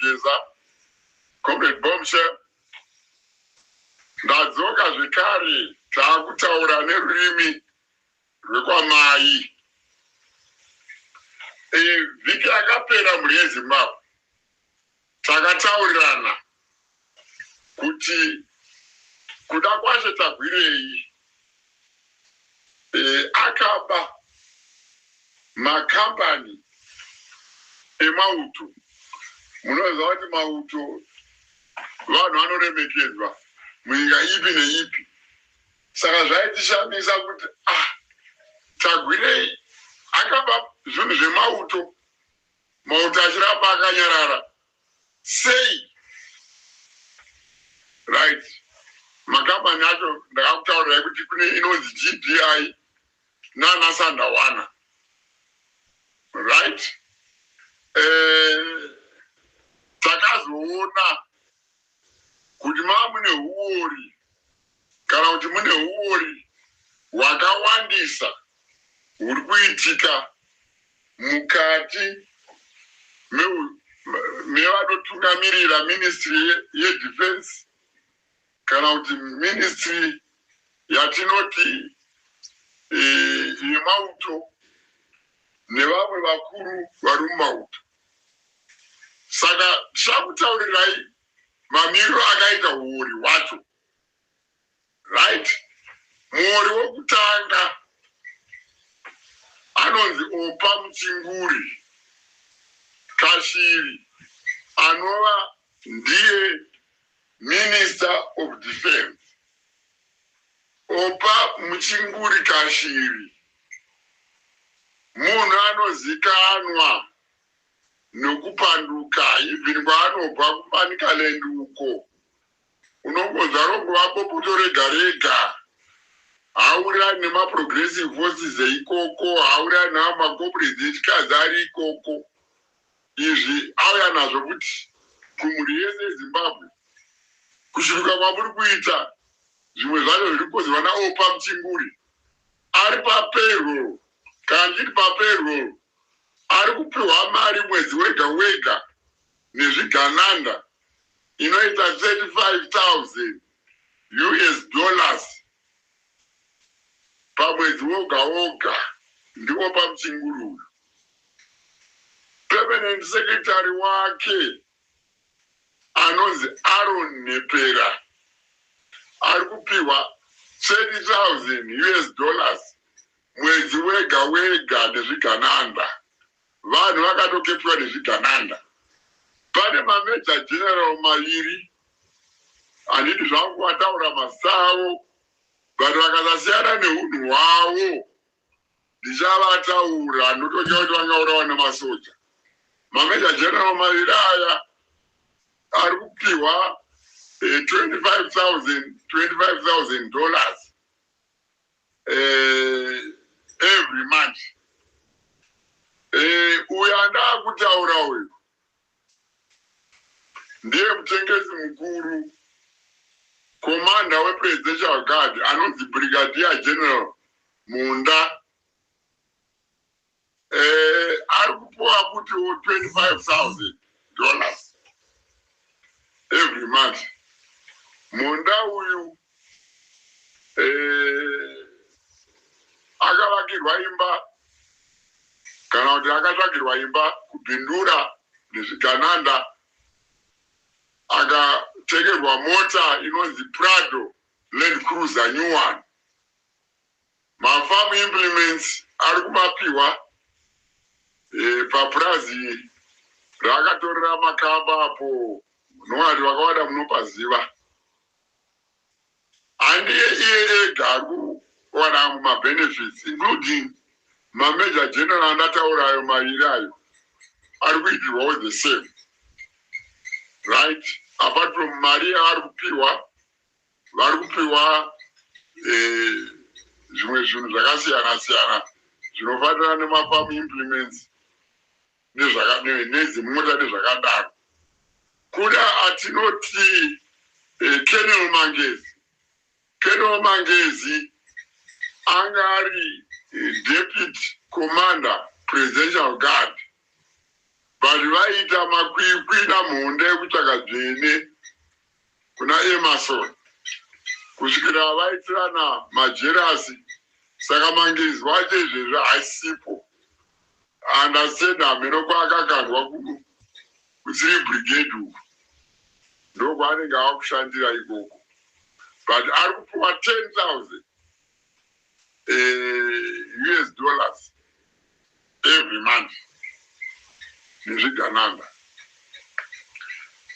Geza, Comrade Bombshell. Ndadzoka zvekare taakutaura nerurimi rwekwamai. E, vhiki yakapera mhuri yeZimbabwe takataurirana kuti kuda kwaShe Tagwirei eh, akaba makambani emauto. Munoziva kuti mauto vanhu vanoremekedzwa munyika ipi neipi, saka zvaitishamisa kuti ah, Tagwirei akaba zvinhu zvemauto, mauto achiramba akanyarara Sei? Right. Makambani acho ndakakutaurirai kuti kune inonzi GDI nana Sandawana. Right? Eh, takazoona kuti mava mune huwori kana kuti mune huwori hwakawandisa huri kuitika mukati mevanotungamirira ministry yedefense kana kuti ministry yatinoti eh, yemauto nevamwe vakuru vari mumauto. Saka ndichakutaurirai mamiriro akaita huori hwacho. Right? Muori wokutanga anonzi Opa Muchinguri Kashiri anova ndiye Minister of Defence, Oppah Muchinguri Kashiri, munhu anozikanwa nokupanduka even kwaanobva kuManicaland uko unongonzwa rongova bopoto rega rega haurirani nemaprogressive forces eikoko, haurirani nawo macomrades echikadzi ari ikoko izvi auya nazvo kuti kumhuri yese yeZimbabwe kushurika kwamuri kuita zvimwe zvacho zviri kukonzerwa naOpa Mchinguri ari papayroll kana ndichiti papayroll ari kupiwa mari mwedzi wega wega nezvigananda inoita 35000 us dollars pamwedzi woga woga ndipo pamuchinguri uyu permanent secretary wake anonzi Aaron Nepera ari kupihwa 30,000 us dollars mwedzi wega wega nezvigananda Vanhu vakatoketwa nezvigananda. Pane ma Major General maviri handidi zvangu kuataura mazita avo but vakasasiyana nehunhu hwavo ndichavataura ndototya kuti vangaurawa nemasoja. Ma Major General maviri aya ari kupihwa eh, 25,000 25,000 dollars eh, every month eh, uyo andakutaura uyo ndiye mutengesi mukuru komanda wepresidential guard anonzi brigadier general munda eh, ari kupuwa kuti 25000 dollars every month munda uyu eh, akavakirwa imba kana kuti akatsvagirwa imba kubindura nezvigananda akatengerwa mota inonzi prado land cruiser new one Mafarm implements ari kumapihwa papurazi raakatorera makamba apo nowati vakawada munopaziva. Handiye iye ega ari kuwana amwe mabenefits including mamajor general andataura ayo maviri ayo ari kuitirwawo the same right apart from mari yaari kupihwa vari kupiwa eh, zvimwe zvinhu zvakasiyana siyana zvinofanira nemafamu implements nedzimota nezvakadaro kuda atinoti eh, kenel mangezi kenel mangezi anga ari eh, deputy commander presidential guard vanhu vaiita makwikwi namhonda yekutsvaka dzvene kuna Emerson kusvikira vaitirana majerasi saka Mangizi wacho izvezvi haasipo and I said hameno kwaakakandwa kuThree Brigade uko ndokwaanenge akushandira ikoko but ari kupiwa 10,000 uh, us dollars every month nezvigananda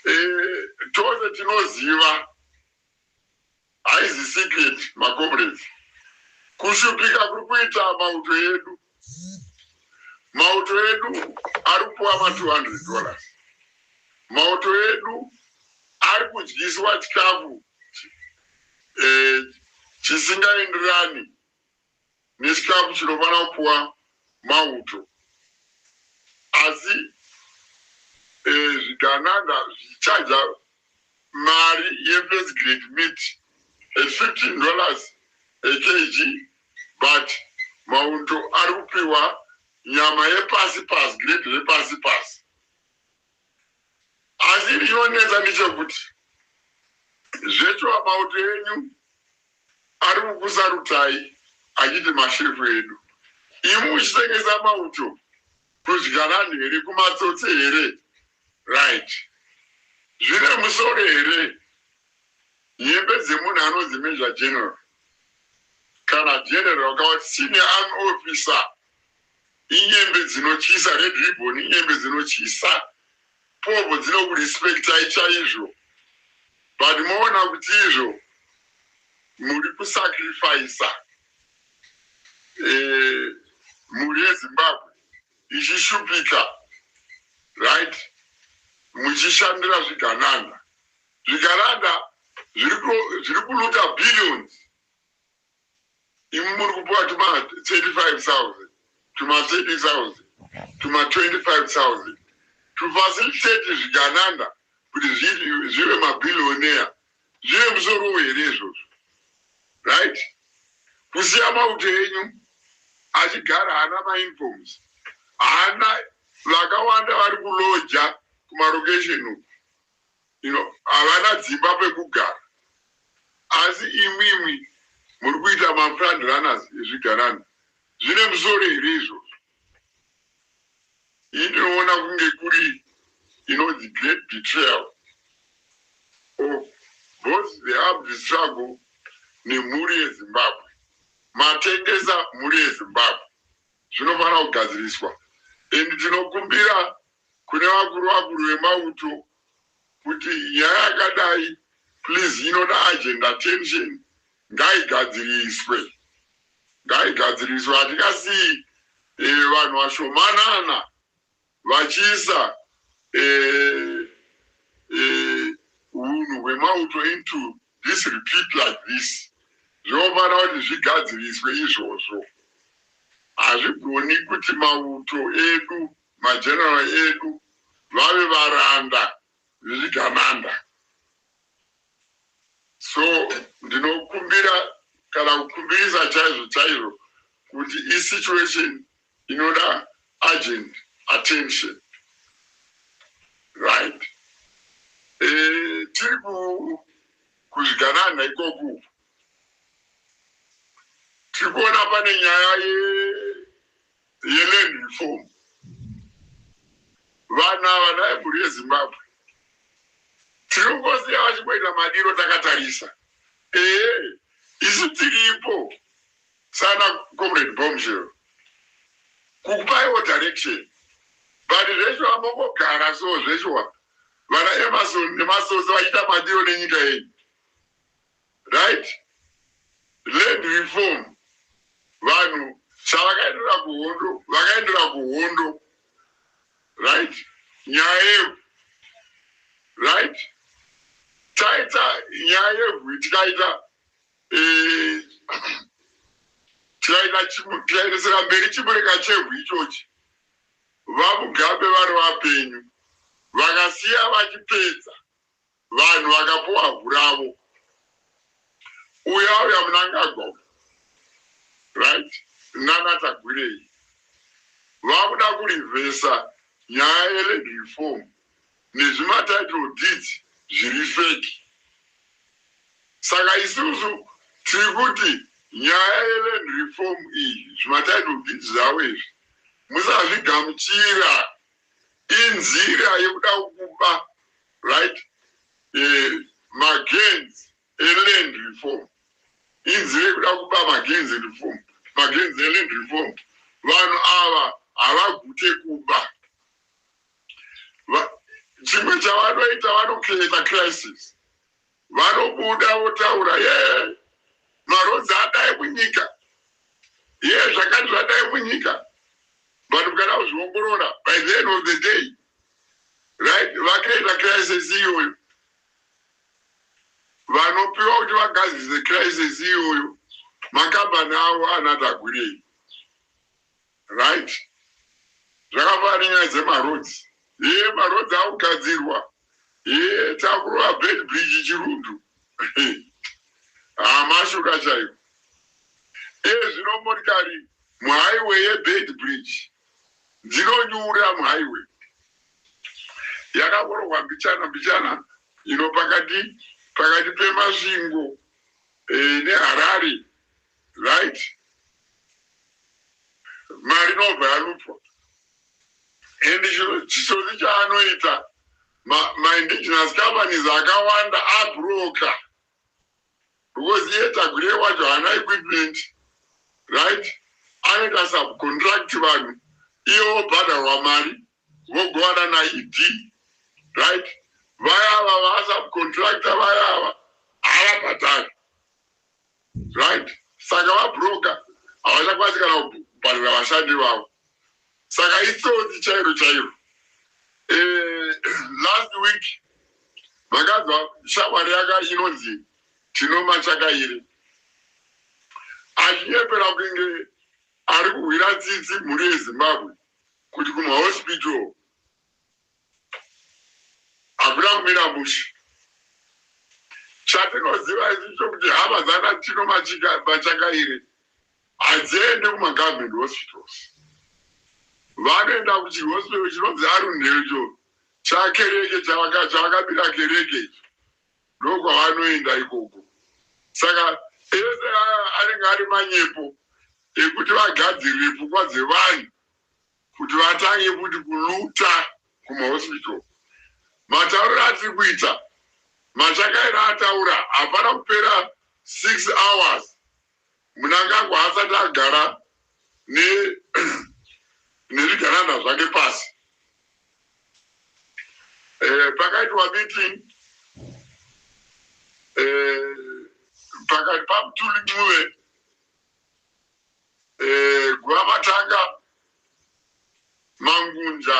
uh, tose tinoziva haizi secret macomrades kushupika kuri kuita mauto yedu Mauto edu ari kupuwa ma 200 dollars. Mauto edu ari kudyiswa chikafu eh, chisingaenderani nechikafu chinofanira kupuwa mauto. Asi eh, zvigananda zvichaja mari yefirst grade meat at 15 dollars a kg but maunto ari kupiwa nyama yepasi pasi, grade repasi pasi. Asi chinonetsa ndechekuti zvechova mauto enyu ari kukusarutai achiti mashefu edu, imi muchitengesa mauto kuzvikaranhu here, kumatsotsi here, Right zvine musoro here nhembe dzemunhu anonzi major general kana general kawati senior army officer inyembe dzinotyisa red ribbon inyembe dzinotyisa povo dzinokurespectai chaizvo but moona kuti izvo muri kusacrifisa eh, mhuri yezimbabwe ichishupika right muchishandira zvigananda zvigananda zviri kuluta billions imi muri kupiwa tuma 35000 tuma 30000 tuma 25000 tufacilitate zvigananda kuti zvive mabillionaire Zvine musorowo here izvozvo right kusiya mauto enyu achigara haana mainforms haana vakawanda vari kuloja kumarokesheni uku you know havana dzimba pekugara asi imwimwi muri kuita mafrand runners ezvigarana zvine musoro here izvozvo inoona kunge kuri inonzi great betrayal of both the armed struggle nemhuri yezimbabwe matengesa mhuri yezimbabwe zvinofanira kugadziriswa and tinokumbira kune vakuru vakuru vemauto kuti nyaya yakadai please inoda agenda tension ngaigadziriswe ngaigadziriswe hatingasiyi eh, vanhu vashomanana vachiisa eh, eh, unhu hwemauto into this repeat like this zvinofanira kuti zvigadziriswe izvozvo hazvigoni kuti mauto edu mageneral edu vave varanda zvichigananda so ndinokumbira kana kukumbirisa chaizvo chaizvo kuti isituation inoda urgent attention right e, tiri kuzvigananda ikoku tiri kuona pane nyaya ye yeLand Reform. Vanhu ava naye mhuri yeZimbabwe tiri kungosiya vachingoita madiro takatarisa. Ehe isu tiripo sana Comrade Bombshell kukupaiwo direction but zveshuwa mongogara so zveshuwa vana Emerson nemasose vachiita madiro nenyika yenyu. Right land reform vanhu chavakaendera kuhondo vakaendera kuhondo right nyaya yevhu right taita nyaya yevhu tikaita eh, tikaita tikaendesera mberi chimureka chevhu ichochi vamugabe vari vapenyu vakasiya vachipedza Vanhu vakapuwa vhu ravo. Uyu auya munangagwa uyu right nana tagwirei vakuda kurivhesa nyaya yeland reform nezvimatitle deeds zviri feki saka isusu tiri kuti nyaya yeland reform iyi zvimatitle deeds zvavo izvi musazvigamuchira inzira yekuda kukuba right magenz eland reform inzi rekuda kuba magenz reform magenz eland reform vanhu ava havagute kuba chimwe chavanoita vanocreata crisis Vanobuda votaura yee maroads adai munyika yee zvakati zvadai munyika vanhu kana kuzviongorora by the end of the day right vacreata crisis iyoyo vanopiwa kuti vagadzise crisis iyoyo makambani avo anatagwirei Right zvakafanana nenyaya dzemaroads hee maroads akugadzirwa hee takurova bed bridge chirundu haa mashuka chaiwo iye zvino motikari muhighway yebed bridge dzinonyura muhighway yakakorogwa mbichana mbichana ino pakati pakati pemasvingo e, neharare right mari inobva yalutwa and chisoni chaanoita maindigenous companies akawanda abroker because iye tagure wacho haana equipment right anoita subcontract vanhu iye obhadharwa mari vogovana naED right vaya ava vasubcontractor vaya ava havabhadhari right saka vabroker havachakwanisi kana kubhadhara vashandi vavo saka itsotsi chairo chairo eh, last week makanzwa shamwari yaka inonzi tinoma chakairi achinyepera kunge ari kuhwira tsitsi mhuri yezimbabwe Kuti kuma hospital hakuna kumira mushe. Chatinoziva isu chokuti hama dzana Tino Machakaire hadziendi kuma government hospitals. Vanoenda kuchihospital chinonzi Arundhe icho chakereke chavakabira kereke icho ndokwavanoenda ikoko. Saka ese anenge ari manyepo ekuti vagadzirire pfungwa dzevanhu kuti vatange kuti kuluta kumahospital. Matauriro atiri kuita Machakaira ataura hapana kupera six hours Mnangagwa haasati agara ne nezvigananda zvake pasi. Eh, pakaitwa meeting eh, pakati paMthuli Ncube Eh, Guramatanga Mangunja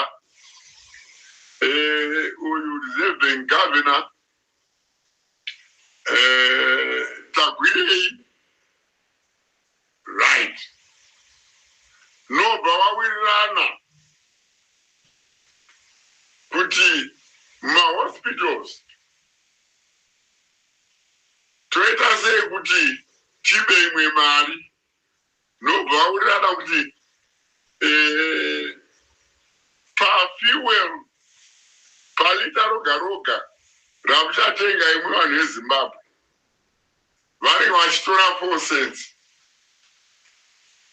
eh, uyu reserving governor eh, Tagwirei right nobva vawirirana kuti mahospitals toita sei kuti tipe imwe mari nobva aurirana kuti eh, pafuel palita roga roga ramuchatenga imwe vanhu vezimbabwe vanenge vachitora four cents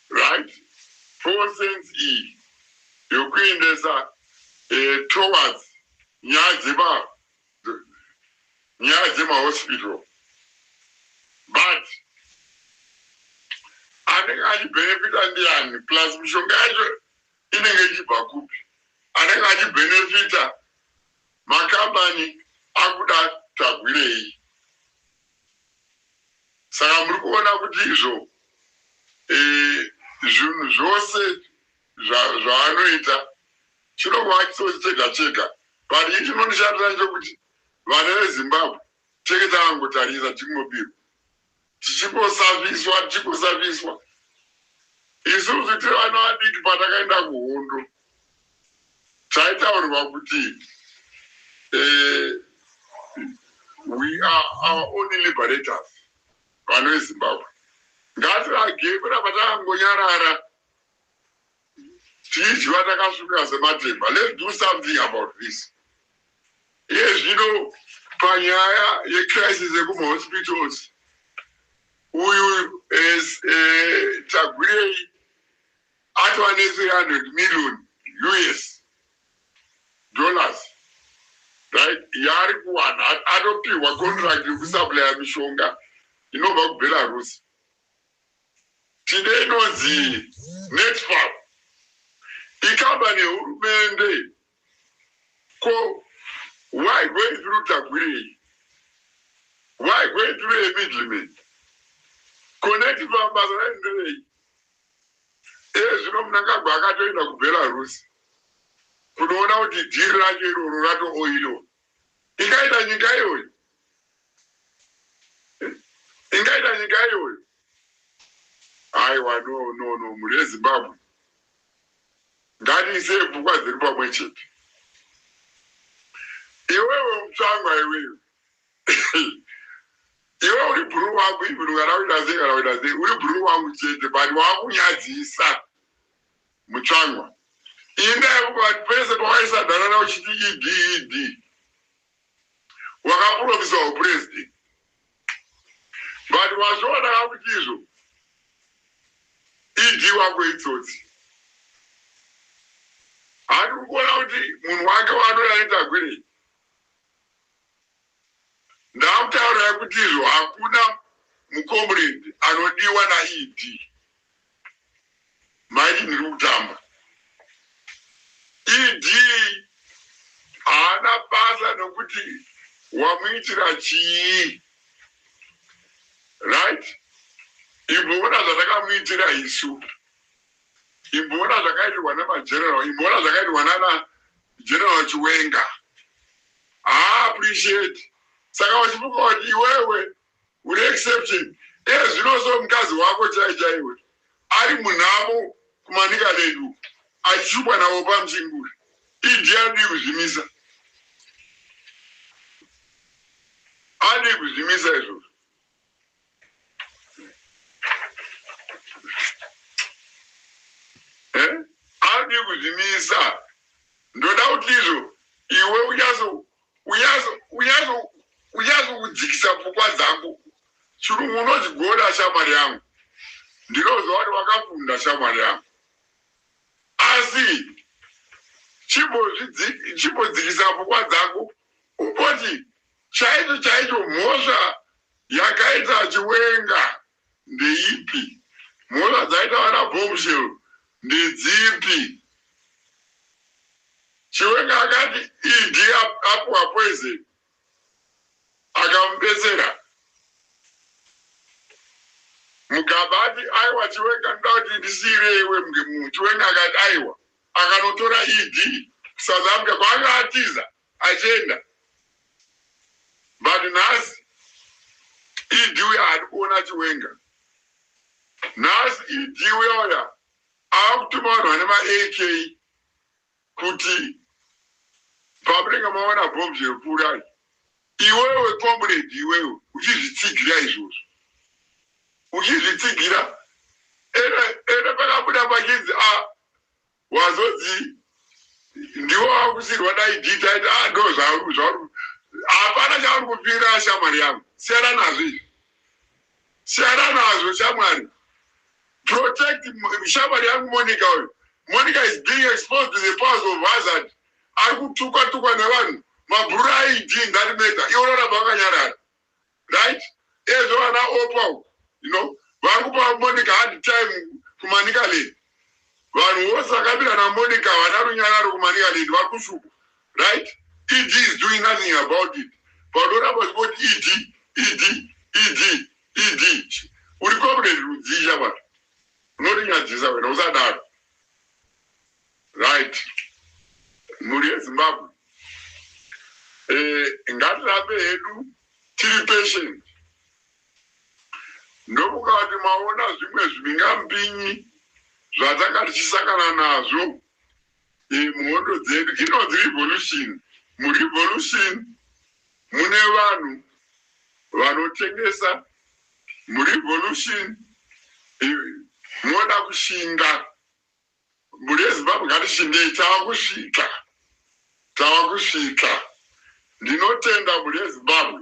right four cents iyi yokuendesa eh, towards nyaya dzema nyaya dzema hospital but anenge achibenefita ndiani plus mishonga yacho inenge ichibva kupi anenge achibenefita makambani akuda tagwirei saka muri kuona kuti izvo eh, zvinhu zvose zvaanoita chinongova chitsotsi chega chega but ini chinondishatira ndechokuti vana vezimbabwe tenge takangotarisa tichingobirwa tichingosaviswa tichingosaviswa isusu tiri vana vadiki patakaenda kuhondo taitaurwa kuti eh, we are our only liberators vana vezimbabwe ngatirage kuramba takangonyarara tichidyiwa takasvika sematemba let's do something about this iye zvino panyaya yecrisis yekumahospitals uyu as eh, tagwirei atova ne300 million us dollars right yaari kuwana anopihwa contract yekusuplya mishonga inobva kubelarus Tine inonzi Netfab ikambani yehurumende ko why going through Tagwirei? Why going through a middleman? Ko Netfab basa rayo nderei? Iye zvino Mnangagwa akatoenda kuBelarus kunoona kuti dhiri racho iroro ratooiliwa. Ingaita nyika iyoyo. Ingaita nyika iyoyo. Aiwa no no no mhuri yeZimbabwe. Ngatiise pfungwa dzedu pamwe chete. Iwewe mutsvangwa iwewe. Iwe uri bhuru wangu even kana uita sei kana uita sei uri bhuru wangu chete but wakunyadzisa. Mutsvangwa inda yekuba pese pawaisadharara uchiti ED ED wakapromisa hupresident but wazviona ka kuti izvo ED wako itsotsi hati ukuona kuti munhu wake waanoda aitagwirei ndakutaurira kuti izvo hakuna mucomrade anodiwa naED Mike ndiri kutamba. ED haana basa nokuti wamuitira chii. Right? Imboona zvatakamuitira isu. Imboona zvakaitirwa nemageneral. Imboona zvakaitirwa nana General Chiwenga. Haa appreciate. Saka wachifunga kuti iwewe Uri exception iye zvino so mukadzi wako chai chaiwe ari munhamo kuManicaland uko achishupwa naOpa Msinguri. ED adii kuzvimisa? Adii kuzvimisa izvozvo? Eh? Adii kuzvimisa? Ndoda kuti izvo iwe uchazo uyazokudzikisa pfungwa dzangu chirungu unochigona shamwari yangu ndinoziva kuti wakafunda shamwari yangu asi chimbodzikisa pfungwa dzangu umboti chaicho chaicho mhosva yakaita chiwenga Ndeipi? Mhosva dzaita vana Bombshell ndedzipi? Chiwenga akati ED apuwa poison akamubetsera. Mugaba ati aiwa Chiwenga ndoda kuti ndisiire iwe Chiwenga akati aiwa akanotora ED kuSouth Africa kwaanga atiza achienda but nhasi ED uya haadi kuona Chiwenga. Nhasi ED uya uya akutuma vanhu vane ma AK kuti pamunenge maona bhomb zvekuurayi iwewe comrade iwewe uchizvitsigira izvozvo uchizvitsigira ene ene pakabuda pachinzi a ah, Wazodzi ndiwo wakusirwa dai Gita aiti ah ndo zvauri zvauri hapana chauri kupira shamwari yangu siyana nazvo izvi siyana nazvo shamwari protect shamwari yangu Monica uyu Monica is being exposed to the powers of hazard ari kutukwa tukwa nevanhu mabhurura aidii in that matter iwo roramba wakanyarara right ezvo vana opa uku you know vari kupa monica hard time kumanika lady vanhu vose vakabira namonica havana runyararo kumanika lady vari kushupa right ed is doing nothing about it panoramba zvikoti ed ed ed ed uri comrade rudzii shamwari unorinyadzisa wena usadaro Right mhuri yezimbabwe eh, ngatirambe hedu tiri patient ndokukati maona zvimwe zvimbingambinyi zvatanga tichisangana nazvo eh, muhondo dzedu inonzi revolution murevolution mune vanhu vanotengesa murevolution eh, moda kushinga Mhuri yeZimbabwe ngatishingeyi tava kusvika tava kusvika ndinotenda mhuri yeZimbabwe.